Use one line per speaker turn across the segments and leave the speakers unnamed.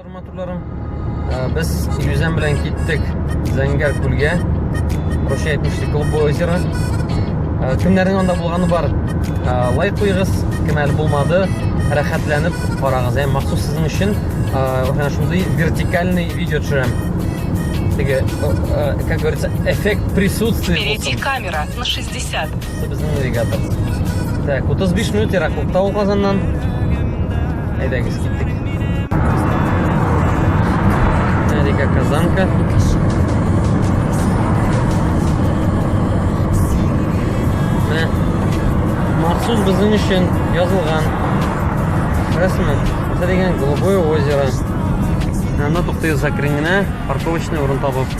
Арматурларым. Без Юзән белән киттек Зәңгәр күлгә. Короче, әйтмешли, клубы озера. Кемнәрнең анда булганы бар? Лайк куйгыз, кем әле булмады, рәхәтләнеп карагыз. Ә махсус сезнең өчен менә шундый вертикальный видео төшерәм. Теге, как говорится, эффект присутствия. Впереди камера на 60 50. Безнең навигатор. Так, 35 минут ераклыкта ул Казаннан. Әйдәгез, киттек. Река Казанка. Менә махсус безнең өчен язылган. Күрәсезме? Монда дигән Голубое озеро. Анда туктыйбыз әкрен генә, парковочный урын табып.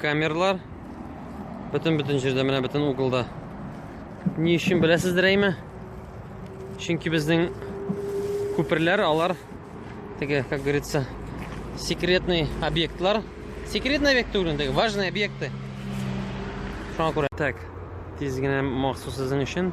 Камерлар бөтен бөтен җирдә, менә бөтен углда. Ни өчен беләсездер әйме? Чөнки безнең күперләр алар теге, как говорится, секретный объектлар. Секретный объект түгел, теге важный объекты. Шуңа күрә. Так, тиз генә махсус сезнең өчен.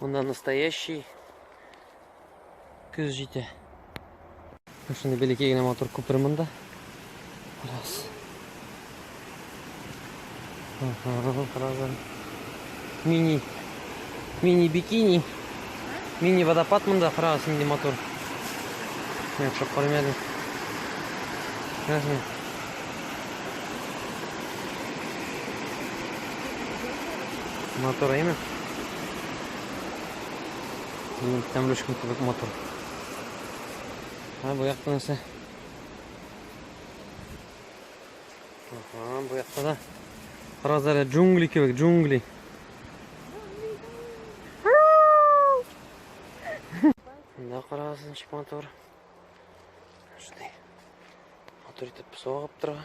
Монда настоящий көз җитә. Шундый бәләкәй генә матур күпер монда. Раз. Мини. Мини бикини. Мини водопад монда раз нинди матур. Мин шок күрмәдем. Рәхмәт. Мотор әйме? Мин тәмлешкім кебек мотор. Ха, бу якта нәрсә? Ага, бу якта да. Карагыз әле джунгли кебек, джунгли. Мында карагыз ничек мотор. Шундый. Мотор итеп согып тора.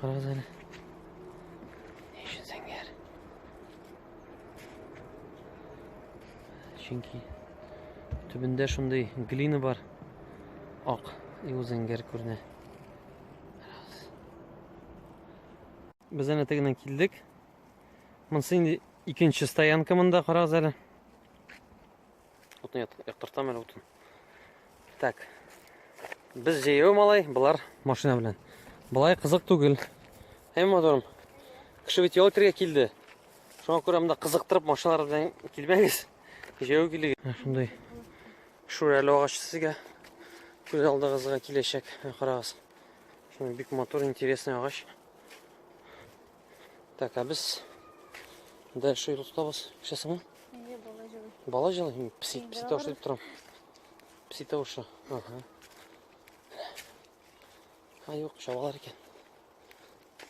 Карагыз әле. Ни өчен зәңгәр? Чөнки төбендә шундый глина бар. Ак и ул зәңгәр күренә. Без әнә тегеннән килдек. Монсы инде икенче стоянка монда, карагыз әле. Утын яктыртам әле утын. Так. Без җәяү малай, болар машина белән. Болай кызык түгел. Һәм моторым. Кеше бит ял итәргә килде. Шуңа күрә монда кызыктырып машиналар белән килмәгез. Җәяү килегез. Ә, шундый шүрәле агач сезгә күз алдыгызга киләчәк. Ә, карагыз. Шундый бик матур, интересный агач. Так, а без дальше юл тотабыз. Сейчас мы. Бала җылы, пси, пси тавыш дип торам. Пси тавышы. Ага. А юк, чабалар икән.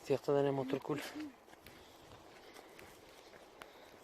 Тияктә дә матур күл.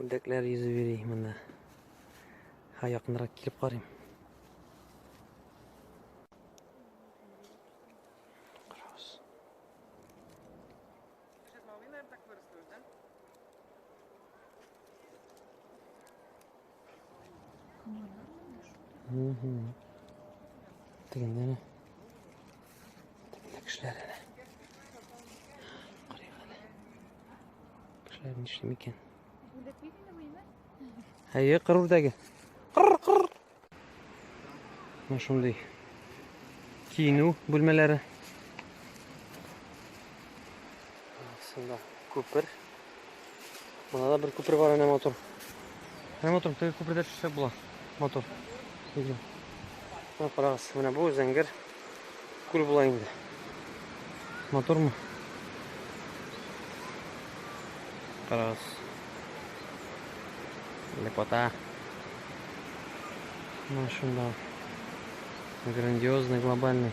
Үрдәкләр йөзеп йөри монда. Ха, якынрак килеп карыйм. Карагыз. Угу. Тегендә Кешеләр әле. Карыйк әле. Кешеләр нишлим икән? Әйе, кыр үрдәге. Кыр, кыр. Менә шундый киенү бүлмәләре. Сында күпер. Монда да бер күпер бар, әнә мотор. Әнә мотор, теге күпердә төшсәк була. Мотор. Видео. Менә карагыз, менә бу зәңгәр күл була инде. Мотормы? Карагыз. Лепота. Машина. Грандиозный, глобальный.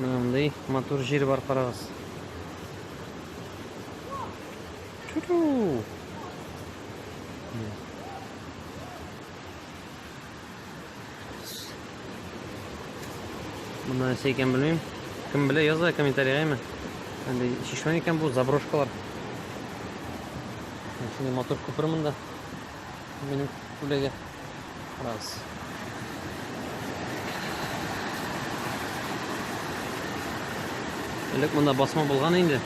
Мынандай матур жир бар карагыз. Чу-чу! Мына нәрсә икән белмим. Кем белә яза комментарийга ме? Әнде шишмә икән бу заброшкалар. Шундый матур күпер монда. Минем күләгә. Раз. Элек монда басма булган инде.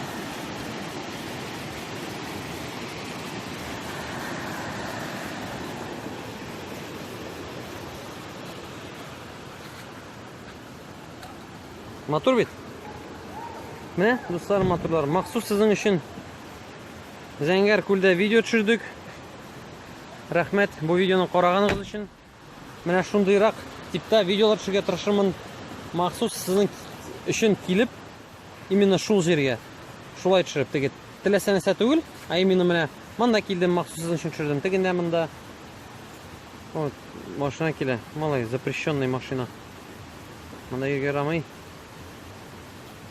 Матур бит. Менә, дуслар, матурлар, махсус сезнең өчен Зәңгәр күлдә видео төшердек. Рәхмәт бу видеоны караганыгыз өчен. Менә шундыйрак типта видеолар төшергә тырышырмын. Махсус сезнең өчен килеп, именно шул җиргә шулай төшереп теге теләсә нәрсә түгел, а именно менә монда килдем, махсус сезнең өчен төшердем. Тегендә монда вот машина килә. Малай, запрещенный машина. Монда йөргә ярамый.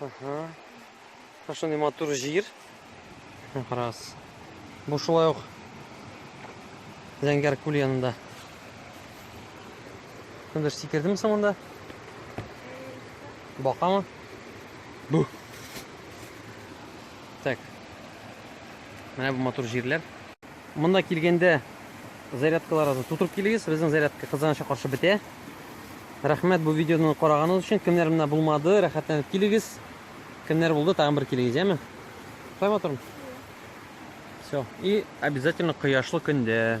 Ага. Хорошо, не матур жир. Раз. Бу шулай ук Зәңгәр күл янында. Кемдер сикердеме соң монда? Бакамы? Бу. Так. Менә бу матур җирләр. Монда килгәндә зарядкаларыгызны тутырып килегез. Безнең зарядка кызганычка каршы бетә. Рәхмәт бу видеоны караганыгыз өчен. Кемнәр менә булмады, рәхәтләнеп килегез. Кемнәр булды, тагын бер килегез, яме? Шулай матурмы? Все. И обязательно кояшлы көндә.